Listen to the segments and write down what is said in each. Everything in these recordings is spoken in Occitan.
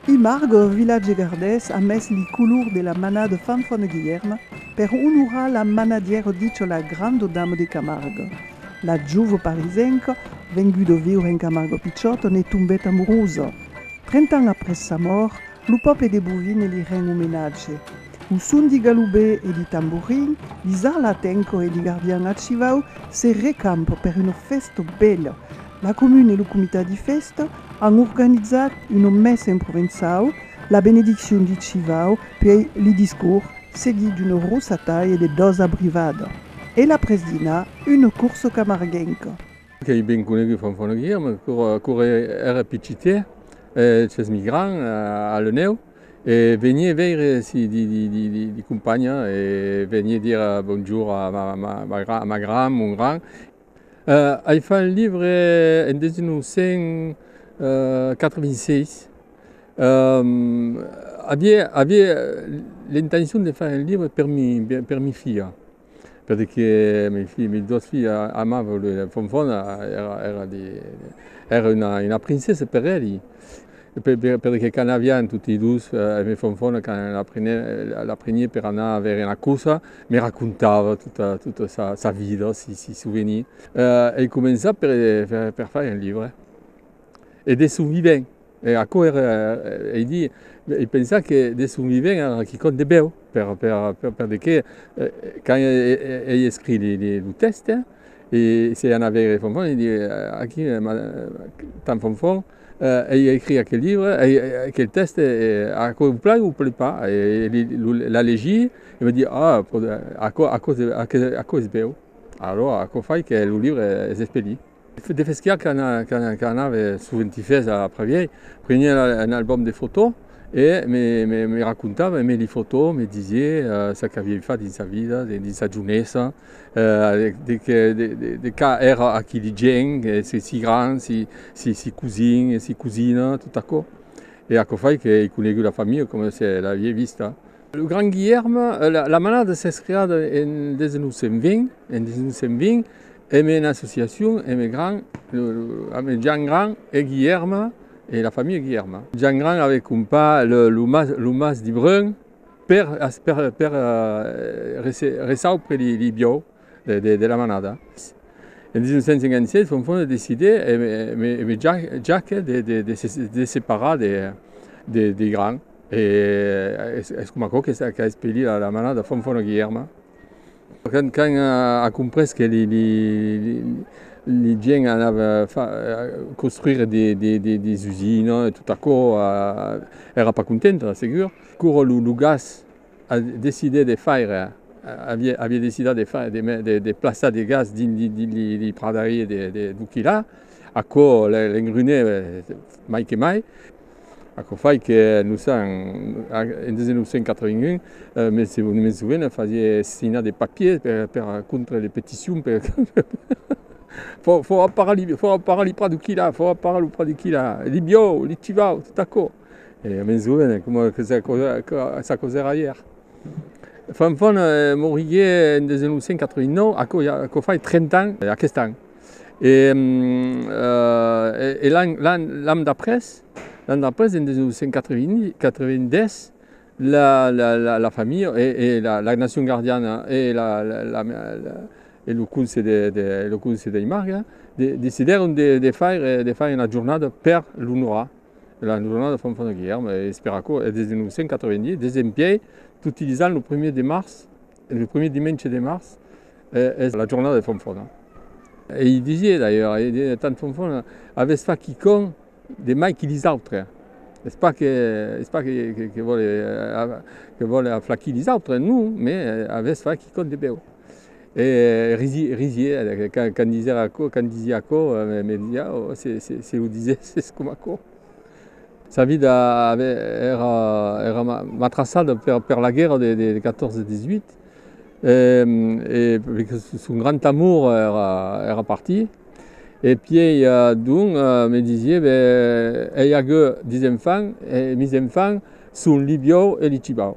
I margue au vilatge gardés a mes li color de la mana de Fanfan e Guilherme per onorar la manadièra Dichola grande dame de Camargue. La jove parisenca, venguda viure en Camargue pichòta, ne tombèt amorusa. Trenta ans après sa mòrt, lo pòble de Bovine li ren omenatge. Lo son di galubè e di tamborin, di zarlatenco e di gardian archivau se recampa per una fèsta bèla. La comuna e lo comitat di fèsta an organizat una messa en provençau, la benediccion di chivau, puèi li discors, seguit d'una rosataia de dos abrivada e l'après dinar una corsa camarguenca. Qu'ei ben conegut Fanfan Aguirre, me qu'a corre era picitè, eth hèsmi gran, a l'Enèu. E venie veire si di companha e venie dire bonjour a ma gran, mon gran. Ai fait un livre en 1986. Avie l'intencion de faire un livre per mi filha. Perque mi fi, mi dos fi amavan lui, la Fonfona èra di, èra una princessa per elli, perque quand avián tutti dus, me Fonfona quand la prenèn, la prenièn per anar a veire una cosa, me racontava tota, tota sa, sa vida, si, si souvenir. Ei començat per, per fai un libre e de son vivent. E aquò èra, ei dir, ei pensar que de son vivent èra quicòm de bèu, per de qué, quand ei escrit lo tèxte, e s'ei anat veire Fonfon, ei dir, aquí, tant Fonfon, ei escrit aquel libre, aquel tèxte, aquò o plai o plai pas, e l'a legir, e va dir, ah, aquò es bèu, alò aquò fai que lo libre es espelit. De Fesquiar qu'anave soventifés a Pravièi, prenié un albòm de fotò e me racontava, e me li fotò, me disié ça qu'aviei fat dins sa vida, dins sa jonhesa, de qu'a èra aqui de gent, si grand, si cosin, si cosina, tot aquò. E aquò fai qu'ei conegut la familha coma se l'aviei vista. Lo Grand Guilherm, la manada s'es creada en 1920 en una associacion eme Grand, eme Jean Grand e Guilherm e la familha Guilherm. Jean Grand avè comprat lo mas de Brun per resaupre li biau de la manada. En 1956 Fonfon decidè eme Jacques de se separar de Grand. E es coma aquò que qu'a espellit la mana de Fanfan a Guilherme. Quand a comprés que li gents anava construire des usines e tot aquò, èra pas contenta, segur. Quora lo gas a decidé de faire, aviá decidat de faire, de plaçar de gas dins li pradarie de Buchilha, aquò l'engrunèt mai que mai. Aquò fai que nos an, en 1981, me soven fasié signar de papiers per contra de peticions per fòra parar li fòra parar li prat d'Ucchilà, fòra parar lo prat d'Ucchilà, li biòu, li civau, tot aquò. E me soven coma que sa cosa sa cosa èra ièr. Fanfan morigué en 1989, aquò ja aquò fai 30 ans, aquest an. E l'an d'après, en 1990, la familha e la nacion gardiana e lo conse dei marga decidèron de faire una jornada per l'onorar, la jornada de Fanfan e Guilherme, e es per aquò, des de 1990, des en pièi, utilizant lo primièr de març, Lo primièr dimenge de març es la jornada de Fonfona. E i disié d'ailleurs, e disié tant Fonfona, avètz fach quicòm de mai que lis autres. Es pas que, es pas que vòle, que vòle aflachir lis autres, non, mais avètz fach quicòm de bèu. E risié, quand disèra aquò, quand disié aquò, me disiá, oh, se lo disèsses coma aquò. Sa vida èra matrassada per la guèrra de 1418 e son grand amor èra partit e pièi donc me disié, ben, ei agueu dis enfants e mis enfants son li biòu e li cibau.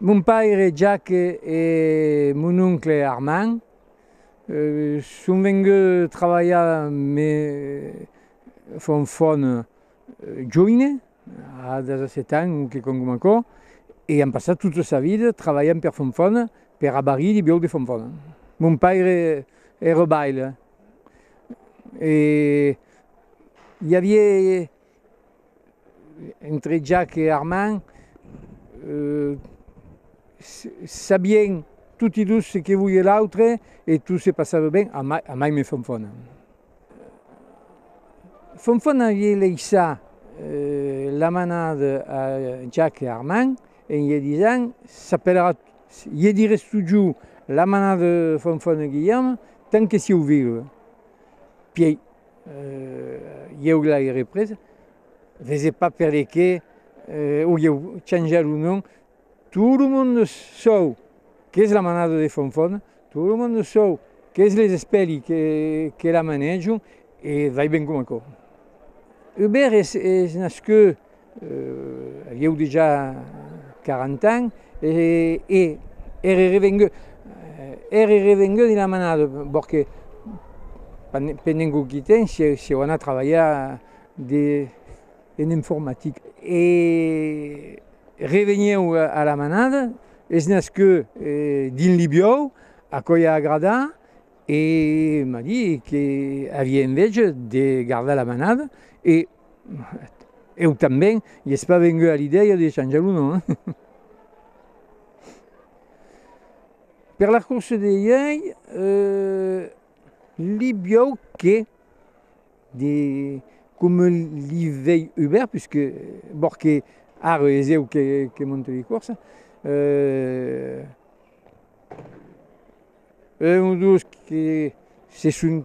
Mon paire Jacques e mon oncle Armand son venguts trabalhar me font fòna joine. A 17 ans, un que congom aquò, e an passat tota sa vida trabalhant per Fonfòna, per abarrir li biòc de Fonfòna. Mon paire ère baile e i avié entre Jac e Armand, sabien toti dos se que volie l'autre e tot se passava ben, a mai me Fonfòna. Fonfon avié leissá la manada a Jack e Armand en ie disent, S'apellerà, ie dirés totjou, la manada de Fonfon e Guilherme, tant que sieu vius. Pièi, ieu l'airé presa, vese pas perqué o ieu chanjar lo nom, Tot lo monde sòu qu'es la manada de Fonfon, tot lo monde sòu qu'es les espèli que la manejon e vai ben coma aquò. Hubert es nascut a lhèu de ja 40 ans e ère revengut, ère revengut dins la manada, perque pendent quauqui temps sieu anat trabalhar dins en informatic e revenieu a la manada, es nasqueu dins Libiòu, aquò i a agradat e m'a dit que avia enveja de gardar la manada e eu tanben i es pas vengut a l'idèia de chanjar lo nom. Per la cursa de ièi, Libiòu que. De coma li vei Hubert, puisque bòr que ara es eu que monto li corsa, un o dos que se son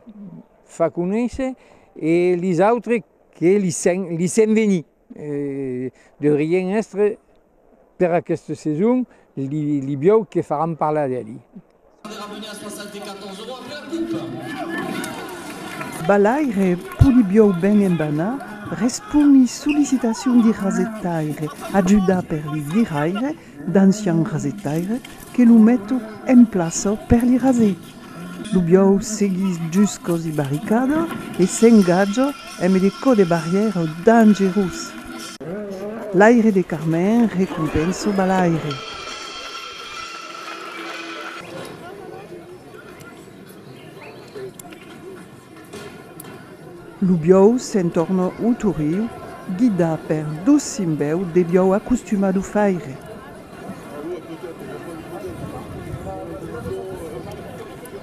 fa conéisser e lis autres que li sèn venir. E deurien èstre per aquesta seson li biòu que faràn parlar d'eli. Balaire, pudi biòu ben enbanar, responi sollicitacion di rasetaire, ajudar per li viraire, d'ancian rasetaire que lo meto en plaça per li raser. Lo biòu seguís juscos i barricada e s'engatja eme de cò de barrièra dangerós. L'aire de Carmèn recompensa balaire. Lo biòu se'n torna au Toriu, guidat per dos simbèu de biòu acostumats d'o faire.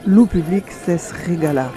Lo public s'es regalat.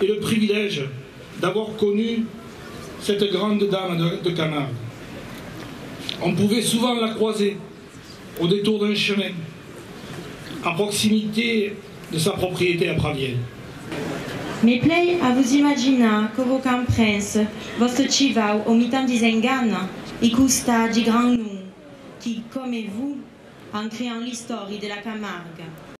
e le privilège d'avoir connu cette grande dame de Camargue. On pouvait souvent la croiser au détour d'un chemin, à proximité de sa propriété à Pravièl. Me plai a vos imaginar que vos camprens, vòste chivau au mitan dis enganha, i costa di gran num qui, comme vous, an creant l'istòri de la Camargue.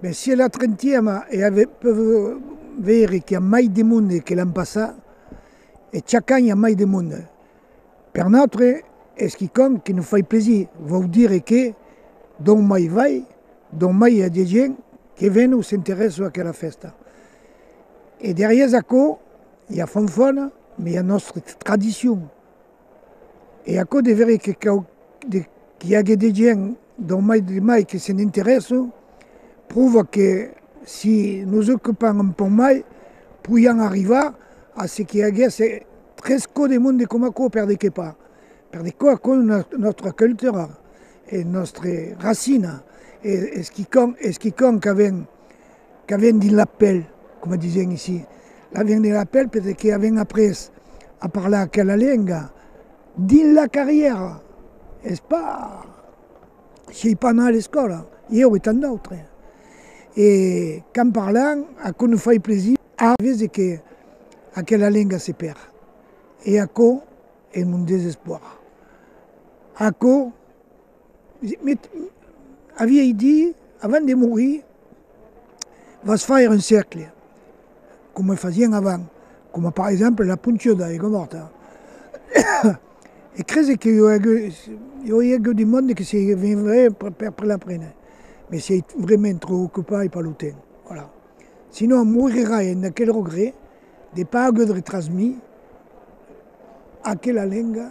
Bèh, si è la trentièma e ave peu veire qu'i a mai de monde que l'an passat, e chac an i a mai de monde, per nòstre es quicòm que nos fai plaisir, vòu dire que d'ont mai vai, d'ont mai i a de gent que ven o s'interèssa a aquela fèsta. E darrièrs aquò i a Fonfòna, me i a nòstre tradicion. E aquò de veire que cau de qu'i age de gent dau mai de mai que se n'interèssa, prova que si nos ocupam un pauc mai, poiam arrivar a ce qu'i aguèsse tres cò de monde coma aquò, per de qué pas? Per de quò aquò es nòstra cultura, es nòstre racina, es quicòm, es quicòm qu'avèm. Qu'avèn dins la pèl, coma disèn ici, l'avèn dins la pèl perqué avèn après a parlar aquela lenga dins la carrièra, es pas s'ei pas anar a l'escòla, ieu e tant d'autres. E qu'an parlan, aquò nos fai plaisir a vese que aquela lenga se perd e aquò es mon desespoir. Aquò. Me aviei dit, avant de morir, vas faire un cercle, coma fasián avant, coma per exemple la puntura de l'aiga morta. E crese que jo i agueu de monde que se venguèren per la prene, me siei vraiment trop ocupai per lo temps, voilà. Sinon morirrai en aquel regret de pas aguèdre transmis aquela lenga.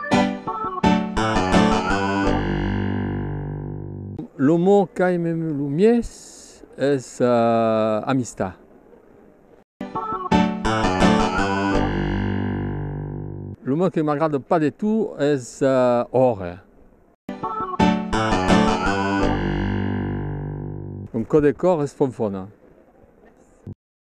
Lo mot qu'aimem lo mies es amistat. Lo mot que m'agrada pas de tout es òrre. Un cò de còr es fonfona.